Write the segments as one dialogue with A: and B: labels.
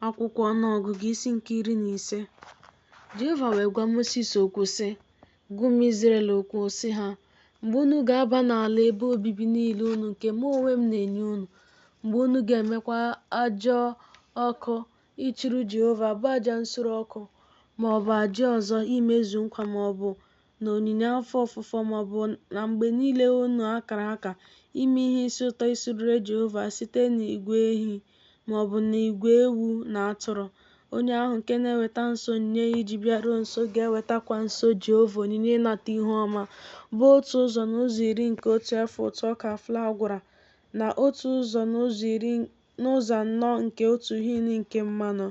A: Akwụkwọ Ọnụọgụgụ isi nke iri na ise Jehova wee gwa Mosis okwu sị, Gwa ụmụ Izrel okwu sị ha, Mgbe unu ga-aba n'ala ebe obibi niile unu nke mụ onwe m na-enye unu, mgbe unu ga-emekwa aja ọkụ ịchụrụ Jehova bụ aja nsure ọkụ ma ọ bụ aja ọzọ imezu nkwa ma ọ bụ na onyinye afọ ofufo ma ọ bụ na mgbe niile unu a kara aka ime ihe isi ụtọ isurere Jehova site n'igwe ehi ma ọ bụ n'igwe ewu na atụrụ. Onye ahụ nke na-eweta nso onyinye ya iji bịaruo nso ga-ewetakwa nso Jehova onyinye ịnata ihu ọma, bụ otu ụzọ n'ụzọ iri nke otu efa ụtụ ọka flawa a gwara na otu ụzọ n'ụzọ iri n'ụzọ anọ nke otu hin nke mmanụ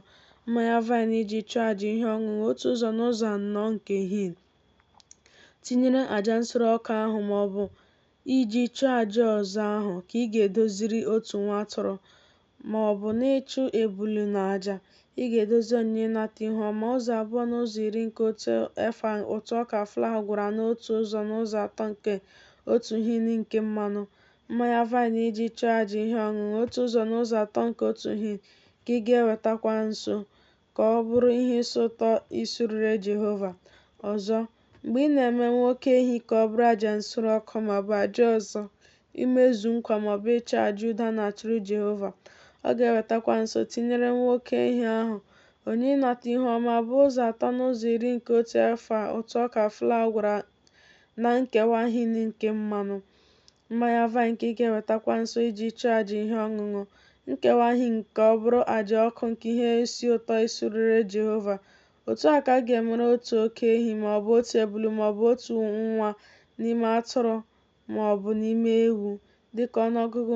A: mmanya vaịn iji chụọ aja ihe ọṅụṅụ otu ụzọ n'ụzọ anọ nke hin tinyere aja nsure ọkụ ahụ ma ọ bụ iji chụọ aja ọzọ ahụ ka ị ga-edoziri otu nwa atụrụ ma ọ bụ n'ịchụ ebulu na aja ị ga-edozi onyinye ịnata ihu ọma ụzọ abụọ n'ụzọ iri nke otu efa ụtụ ọka flawa a gwọrọ n'otu ụzọ n'ụzọ atọ nke otu hin nke mmanụ mmanya vaịn iji chụọ aja ihe ọṅụṅụ otu ụzọ n'ụzọ atọ nke otu hin ka ị ga-ewetakwa nso ka ọ bụrụ ihe isi ụtọ isurere Jehova. Ọzọ, mgbe ị na-eme nwa oke ehi ka ọ bụrụ aja nsure ọkụ ma ọ bụ aja ọzọ, imezu nkwa ma ọ bụ ịchụ aja udo a na-achụrụ Jehova, ọ ga-ewetakwa nso tinyere nwa oke ehi ahụ onyinye ịnata ihu ọma bụ ụzọ atọ n'ụzọ iri nke otu efa ụtụ ọka flawa a gwara na nkewa hin nke mmanụ mmanya vaịn ka ị ga-ewetakwa nso iji chụọ aja ihe ọṅụṅụ nkewa hin ka ọ bụrụ aja ọkụ nke ihe isi ụtọ isurere Jehova otu a ka a ga-emere otu oke ehi ma ọ bụ otu ebulu ma ọ bụ otu nwa n'ime atụrụ ma ọ bụ n'ime ewu dịka ọnụọgụgụ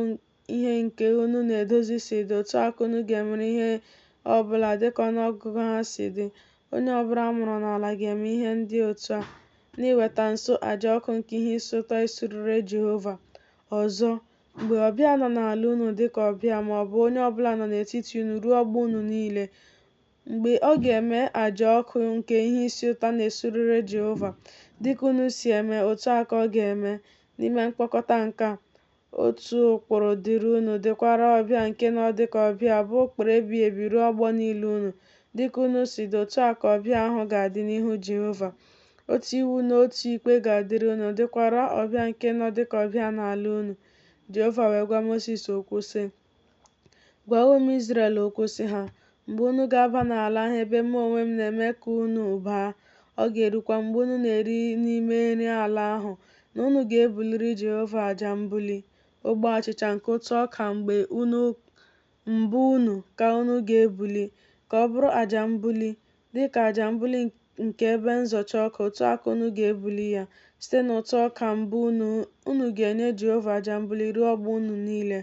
A: ihe nke unu na-edozi si dị otu a ka unu ga-emere ihe ọ bụla dịka ọnụọgụgụ ha si dị onye ọbụla a mụrụ n'ala ga-eme ihe ndị otu a n'iweta nso aja ọkụ nke ihe isi ụtọ isurere Jehova ọzọ mgbe ọbịa nọ n'ala unu dịka ọbịa ma ọ bụ onye ọbụla nọ n'etiti unu ruo ọgbọ unu niile mgbe ọ ga-eme aja ọkụ nke ihe isi ụtọ na-esurere Jehova dịka unu si eme otu a ka ọ ga-eme n'ime mkpọkọta nke a Otu ụkpụrụ dịrị unu dịkwara ọbịa nke nọ dị ka ọbịa bụ ụkpụrụ ebighị ebi ruo ọgbọ niile unu. Dị ka unu si dị, otu a ka ọbịa ahụ ga-adị n'ihu Jehova. Otu iwu na otu ikpe ga-adịrị unu, dịkwara ọbịa nke nọ dị ka ọbịa n'ala unu. Jehova wee gwa Mosis okwu, sị. Gwa ụmụ Izrel okwu sị ha, Mgbe unu ga-aba n'ala ahụ ebe mụ onwe m na-eme ka unu baa, ọ ga-erukwa mgbe unu na-eri n'ime nri ala ahụ na unu ga-ebuliri Jehova aja mbuli, ogbe achịcha nke ụtụ ọka mgbe mbụ unu ka unu ga-ebuli, ka ọ bụrụ aja mbuli dịka aja mbuli nke ebe nzọcha ọka, otu a ka unu ga-ebuli ya. Site n'ụtụ ọka mbụ unu, unu ga-enye Jehova aja mbuli ruo ọgbọ unu niile.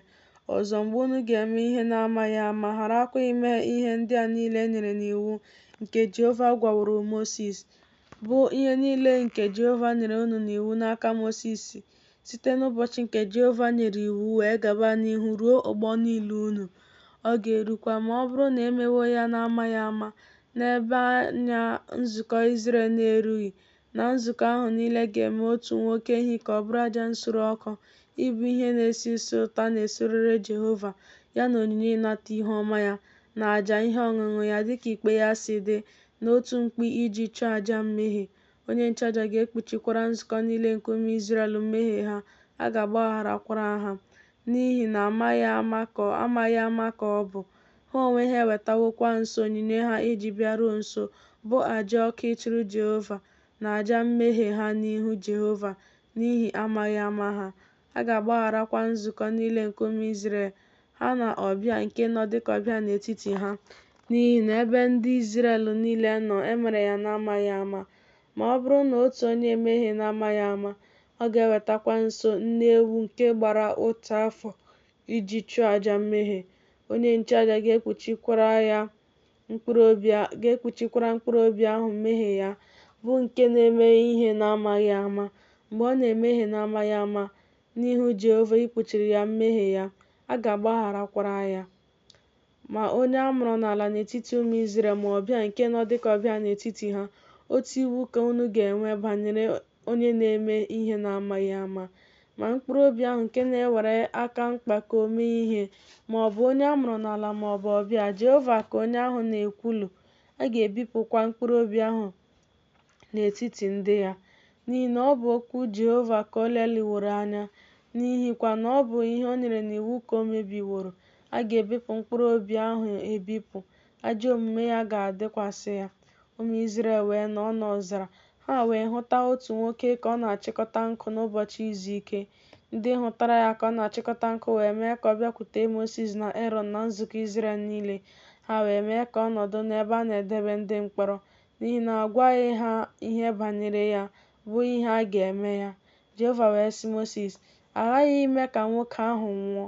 A: Ọzọ, mgbe unu ga-eme ihe n'amaghị ama, gharakwa ime ihe ndị a niile e nyere n'iwu nke Jehova gwaworo Mosis, bụ ihe niile nke Jehova nyere unu n'iwu n'aka Mosis, Site n'ụbọchị nke Jehova nyere iwu wee gaba n'ihu ruo ọgbọ niile unu, ọ ga-erukwa ma ọ bụrụ na e mewo ya n'amaghị ama, n'ebe anya nzukọ Izrel na-erughị, na nzukọ ahụ niile ga-eme otu nwa oke ehi ka ọ bụrụ aja nsure ọkụ, ịbụ ihe na-esi isi ụtọ a na-esurere Jehova, ya na onyinye ịnata ihu ọma ya, na aja ihe ọṅụṅụ ya, dịka ikpe ya si dị, na otu mkpi iji chụọ aja mmehie. Onye nchụaja ga-ekpuchikwara nzukọ niile nke ụmụ Izrel mmehie ha, a ga-agbagharakwara ha, n'ihi na amaghị ama ka ọ bụ. Ha onwe ha ewetawokwa nso onyinye ha e ji bịaruo nso, bụ aja ọkụ ịchụrụ Jehova, na aja mmehie ha n'ihu Jehova n'ihi amaghị ama ha. A ga-agbagharakwa nzukọ niile nke ụmụ Izrel, ha na ọbịa nke nọ dịka ọbịa n'etiti ha. N'ihi na ebe ndị Izrel niile nọ, e mere ya n'amaghị ama. Ma ọ bụrụ na otu onye emehie n'amaghị ama, ọ ga-ewetakwa nso nne ewu nke gbara otu afọ iji chụọ aja mmehie. Onye nchụaja ga-ekpuchikwara ya mkpụrụ obi a ga-ekpuchikwara mkpụrụ obi ahụ mmehie ya bụ nke na-eme ihe n'amaghị ama mgbe ọ na-emehie n'amaghị ama n'ihu Jehova ikpuchiri ya mmehie ya a ga-agbagharakwara ya ma onye a mụrụ n'ala n'etiti ụmụ Izrel ma ọbịa nke nọ dịka ọbịa n'etiti ha otu iwu ka unu ga-enwe banyere onye na-eme ihe n'amaghị ama, ma mkpụrụ obi ahụ nke na-ewere aka mkpako mee ihe, ma ọ bụ onye a mụrụ n'ala ma ọ bụ ọbịa, Jehova ka onye ahụ na-ekwulu, a ga-ebipụkwa mkpụrụ obi ahụ n'etiti ndị ya, n'ihi na ọ bụ okwu Jehova ka o leliworo anya, n'ihikwa na ọ bụ ihe o nyere n'iwu ka o mebiworo, a ga-ebipụ mkpụrụ obi ahụ ebipụ, ajọ omume ya ga-adịkwasị ya. Ụmụ Izrel wee nọọ n'ọzara. Ha wee hụta otu nwoke ka ọ na-achịkọta nkụ n'ụbọchị izu ike. Ndị hụtara ya ka ọ na-achịkọta nkụ wee mee ka ọ bịakwute Mosis na Erọn na nzukọ Izrel niile. Ha wee mee ka ọ nọdụ n'ebe a na-edebe ndị mkpọrọ, n'ihi na a gwaghị ha ihe banyere ya, bụ ihe a ga-eme ya. Jehova wee sị Mosis, A ghaghị ime ka nwoke ahụ nwụọ.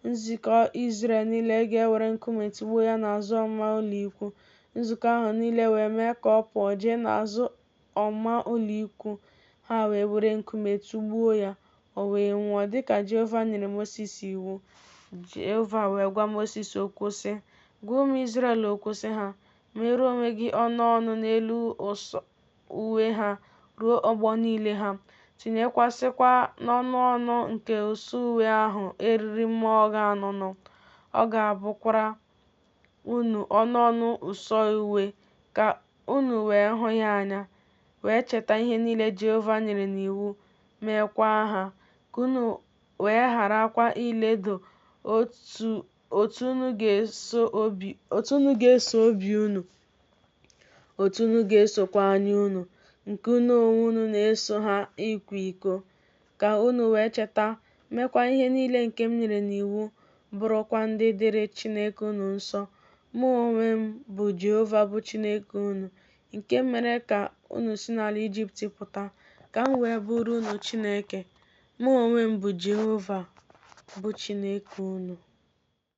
A: Nzukọ Izrel niile ga-ewere nkume tụgbuo ya n'azụ ọmụma ụlọikwuu. Nzukọ ahụ niile wee mee ka ọ pụọ jee n'azụ ọmụma ụlọikwuu, ha wee were nkume tụgbuo ya, o wee nwụọ, dị ka Jehova nyere Mosis iwu. Jehova wee gwa Mosis okwu, sị, Gwa ụmụ Izrel okwu, sị ha, Meere onwe gị ọnụ ọnụ n'elu ụsọ uwe ha ruo ọgbọ niile ha, tinyekwasịkwa n'ọnụ ọnụ nke ụsọ uwe ahụ eriri mma ogho anụnụ. Ọ ga-abụkwara unu ọnụ ọnụ ụsọ uwe, ka unu wee hụ ya anya, wee cheta ihe niile Jehova nyere n'iwu, meekwa ha, ka unu wee gharakwa iledo otu unu ga-eso obi unu. otu unu ga-esokwa anya unu nke unu onwe unu na-eso ha ịkwa iko ka unu wee cheta meekwa ihe niile nke m nyere n'iwu bụrụkwa ndị dịrị Chineke unu nsọ mụ onwe m bụ Jehova bụ Chineke unu nke m mere ka unu si n'ala Ijipt pụta ka m wee bụrụ unu Chineke mụ onwe m bụ Jehova bụ Chineke unu